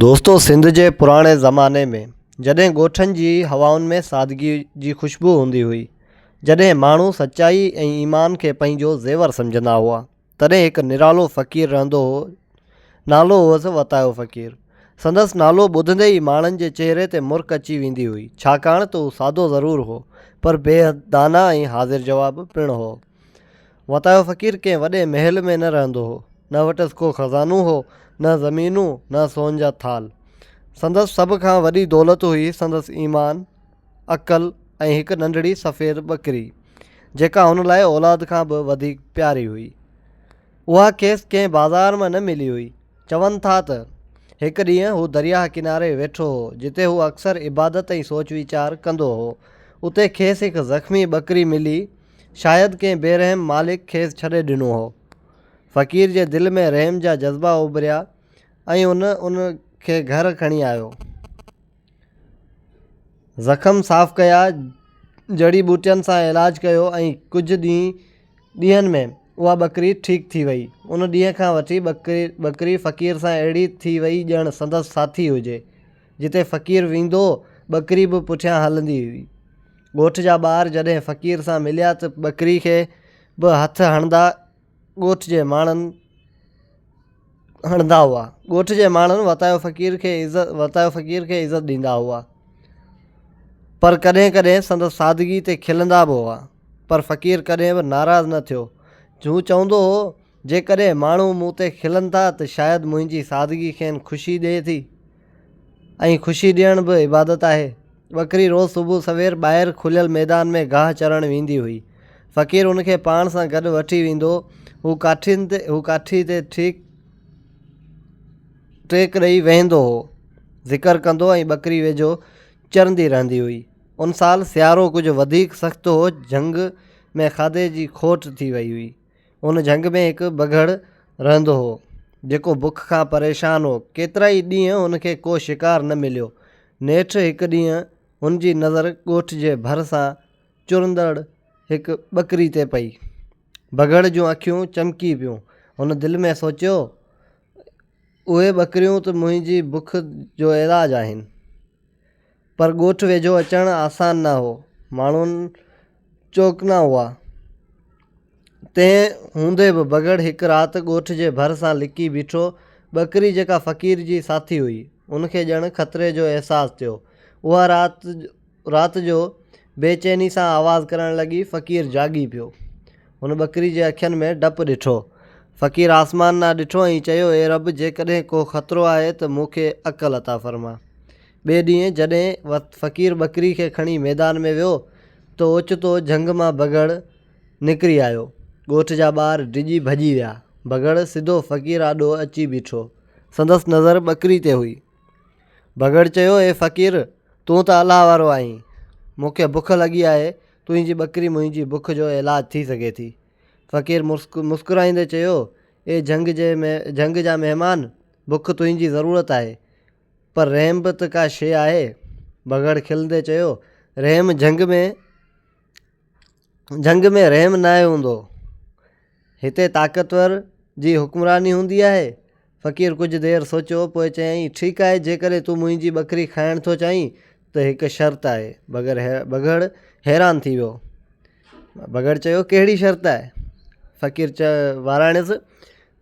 دوستو سنڌ جي پراڻي زماني ۾ جڏهن ڳوٺن جي هوائن ۾ سادگي جي خوشبو هوندي هئي جڏهن ماڻهو سچائي ۽ ايمان کي پنهنجو زيور سمجهندا هئا تڏهن هڪ نرالو فقير رهندو هو نالو هئس وتايو فقير سندس نالو ٻڌندي ئي ماڻهن جي چهري تي مرڪ اچي ويندي هئي ڇاڪاڻ ته هو سادو ضرور هو پر بيحد داناء ۽ حاضر جواب پڻ هو وتايو فقير ڪنهن وڏي محل ۾ نه رهندو هو. نه وٽس ڪو خزانو هو، نه زمينون، نه سون جا ٿالهه. سندس سڀ کان وڏي دولت هئي سندس ايمان، عقل ۽ هڪ ننڍڙي سفيد ٻڪري، جيڪا هن لاء اولاد کان به وڌيڪ پياري هئي. اها کيس ڪنهن بازار مان نه ملي هئي. چون ٿا ته، هڪ ڏينهن هو درياهه ڪناري ويٺو هو، جتي هو اڪثر عبادت ۽ سوچ ويچار ڪندو هو. اتي کيس هڪ زخمي ٻڪري ملي. شايد ڪنهن بيرحم مالڪ کيس ڇڏي ڏنو هو. فقير جي دل ۾ رحم جا جذبا اڀريا ۽ هن ان کي گهر کڻي آيو. زخم صاف ڪيا، جڙي ٻوٽين سان علاج ڪيو ۽ ڪجهه ڏينهن ۾ اها ٻڪري ٺيڪ ٿي وئي. ان ڏينهن کان وٺي ٻڪري فقير سان اهڙي ٿي وئي ڄڻ سندس ساٿي هجي. جتي فقير ويندو هو، ٻڪري به پٺيان هلندي هئي. ڳوٺ جا ٻار جڏهن فقير سان مليا ته ٻڪري کي به هٿ هڻندا ڳوٺ جي ماڻهن هڻندا هئا ڳوٺ جي ماڻهن وتايو فقير کي عزت وتايو فقير کي عزت ڏيندا هئا پر ڪڏهن ڪڏهن سندس سادگي تي کلندا به هئا پر فقير ڪڏهن به ناراض نه ٿيو هو چوندو هو جيڪڏهن ماڻهو مون تي کلن ٿا ته شايد منهنجي سادگي کين خوشي ڏئي ٿي ۽ خوشي ڏيڻ به عبادت آهي. ٻڪري روز صبح سوير ٻاهر کليل ميدان ۾ گاهه چرڻ ويندي هئي. فقير ان کي پاڻ سان گڏ وٺي ويندو هو ڪاٺين تي هو ڪاٺي تي ٺيڪ ٽيڪ ڏئي ويهندو هو ذڪر ڪندو ۽ ٻڪري ويجهو چرندي رهندي هئي. ان سال سيارو ڪجهه وڌيڪ سخت هو جهنگ ۾ کاڌي جي کوٽ ٿي وئي هئي. ان جهنگ ۾ هڪ بگهڙ رهندو هو، جيڪو بک کان پريشان هو. ڪيترائي ڏينهن هن کي ڪو شڪار نه مليو. نيٺ هڪ ڏينهن هن جي نظر ڳوٺ جي ڀر سان چرندڙ هڪ ٻڪري تي پئي. بگهڙ جون اکيون چمڪي پيون. هن دل ۾ سوچيو، اهي ٻڪريون ته منهنجي بک جو علاج آهن. پر ڳوٺ ويجهو اچڻ آسان نه هو. ماڻهو چوڪنا هئا. تنهن هوندي به بگهڙ هڪ رات ڳوٺ جي ڀر سان لڪي بيٺو. ٻڪري جيڪا فقير جي ساٿي هئي، ان کي ڄڻ خطري جو احساس ٿيو. اها رات رات جو بي چيني سان آواز ڪرڻ لڳي. فقير جاڳي پيو. هن ٻڪري جي اکين ۾ ڊپ ڏٺو. فقير آسمان ڏان ڏٺو ۽ چيو، اي رب! جيڪڏهن ڪو خطرو آهي ته مون کي عقل عطا فرما. ٻئي ڏينهن جڏهن فقير ٻڪري کي کڻي ميدان ۾ ويو ته اوچتو جهنگ مان بگهڙ نڪري آيو. ڳوٺ جا ٻار ڊڄي ڀڄي ويا. بگهڙ سڌو فقير آڏو اچي بيٺو. سندس نظر ٻڪري تي هئي. بگهڙ چيو، اي فقير! تون ته الله وارو آهين. مون کي بک لڳي آهي. تنهنجي ٻڪري منهنجي بک جو علاج ٿي سگهي ٿي. فقير مسڪرائيندي چيو، اي جهنگ جي جهنگ جا مهمان! بک تنهنجي ضرورت آهي. پر رحم به ته ڪا شيء آهي. بگهڙ کلندي چيو، رحم جهنگ ۾، جهنگ ۾ رحم ناهي هوندو. هتي طاقتور جي حڪمراني هوندي آهي. فقير ڪجهه دير سوچيو، پوء چيائين، ٺيڪ آهي، جيڪڏهن تون منهنجي ٻڪري کائڻ ٿو چاهين ته هڪ شرط آهي. بگهڙ حيران ٿي ويو. بگهڙ چيو، ڪهڙي شرط آهي؟ فقير وراڻيس،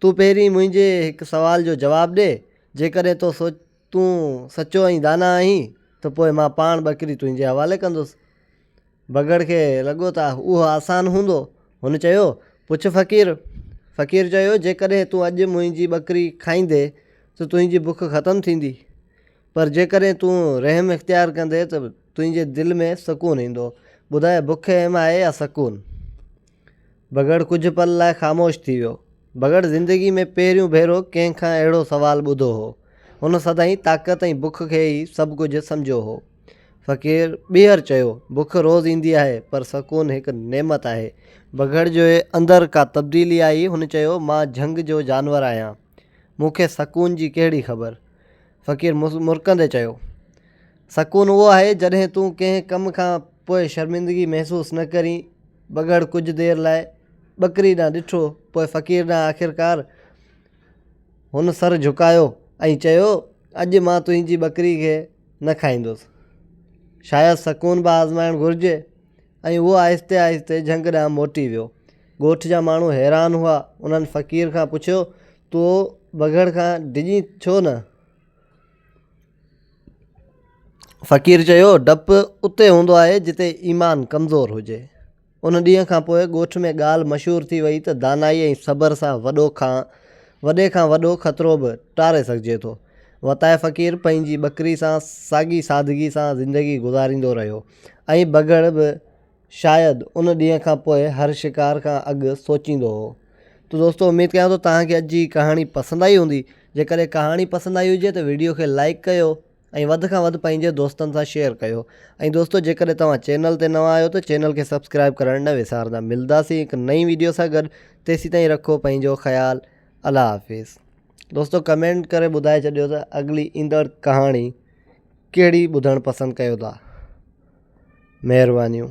تون پهرين منهنجي هڪ سوال جو جواب ڏي، جيڪڏهن تو سوچ تون سچو ۽ داناء آهين ته پوء مان پاڻ ٻڪري تنهنجي حوالي ڪندس. بگهڙ کي لڳو ته اهو آسان هوندو. هن چيو، پڇ فقير! فقير چيو، جيڪڏهن تون اڄ منهنجي ٻڪري کائيندين ته تنهنجي بک ختم ٿيندي. پر جيڪڏهن تون رحم اختيار ڪندين ته تنهنجي دل ۾ سڪون ايندو. ٻڌاء بک اهم آهي يا سڪون؟ بگهڙ ڪجهه پل لاء خاموش ٿي ويو. بگهڙ زندگي ۾ پهريون ڀيرو ڪنهن کان اهڙو سوال ٻڌو هو. هن سدائين طاقت ۽ بک کي ئي سڀ ڪجهه سمجهيو هو. فقير ٻيهر چيو، بک روز ايندي آهي، پر سڪون هڪ نعمت آهي. بگهڙ جي اندر ڪا تبديلي آئي. هن چيو، مان جهنگ جو جانور آهيان. مون کي سڪون جي ڪهڙي خبر. فقير مرڪندي چيو، سڪون اهو آهي جڏهن تون ڪنهن ڪم کان پوء شرمندگي محسوس نه ڪرين. ٻگهڙ ڪجهه دير لاء ٻڪري ڏانهن ڏٺو، پوء فقير ڏانهن آخرڪار هن سر جهڪايو ۽ چيو، اڄ مان تنهنجي ٻڪري کي نه کائيندس. شايد سڪون به آزمائڻ گهرجي. ۽ اهو آهستي آهستي جهنگ ڏانهن موٽي ويو. ڳوٺ جا ماڻهو حيران هئا. انهن فقير کان پڇيو تو بگهڙ کان ڊڄين ڇو نه؟ فقير چيو، ڊپ اتي هوندو آهي جتي ايمان ڪمزور هجي. ان ڏينهن کان پوء ڳوٺ ۾ ڳالهه مشهور ٿي وئي ته دانائي ۽ صبر سان وڏو کان وڏي کان وڏو خطرو به ٽاري سگهجي ٿو. وتايي فقير پنهنجي ٻڪري سان ساڳي سادگي سان زندگي گذاريندو رهيو ۽ بگهڙ به شايد ان ڏينهن کان پوء هر شڪار کان اڳ سوچيندو هو. ته دوستو اميد ڪيان ٿو توهان کي اڄ جي ڪهاڻي پسند آئي هوندي جيڪڏهن ڪهاڻي پسند آئي هجي ته وڊيو کي لائيڪ ڪيو ۽ وڌ کان وڌ پنهنجي دوستن سان شيئر ڪيو ۽ دوستو جيڪڏهن توهان چينل تي نوان آهيو ته چينل کي سبسڪرائيب ڪرڻ نه وسارندا ملداسين هڪ نئين وڊيو سان گڏ تيسيتائين رکو پنهنجو خيال الله حافظ دوستو ڪمينٽ ڪري ٻڌائي ڇڏيو ته اڳلي ايندڙ ڪهاڻي ڪهڙي ٻڌڻ پسند ڪيو ٿا مهربانيون.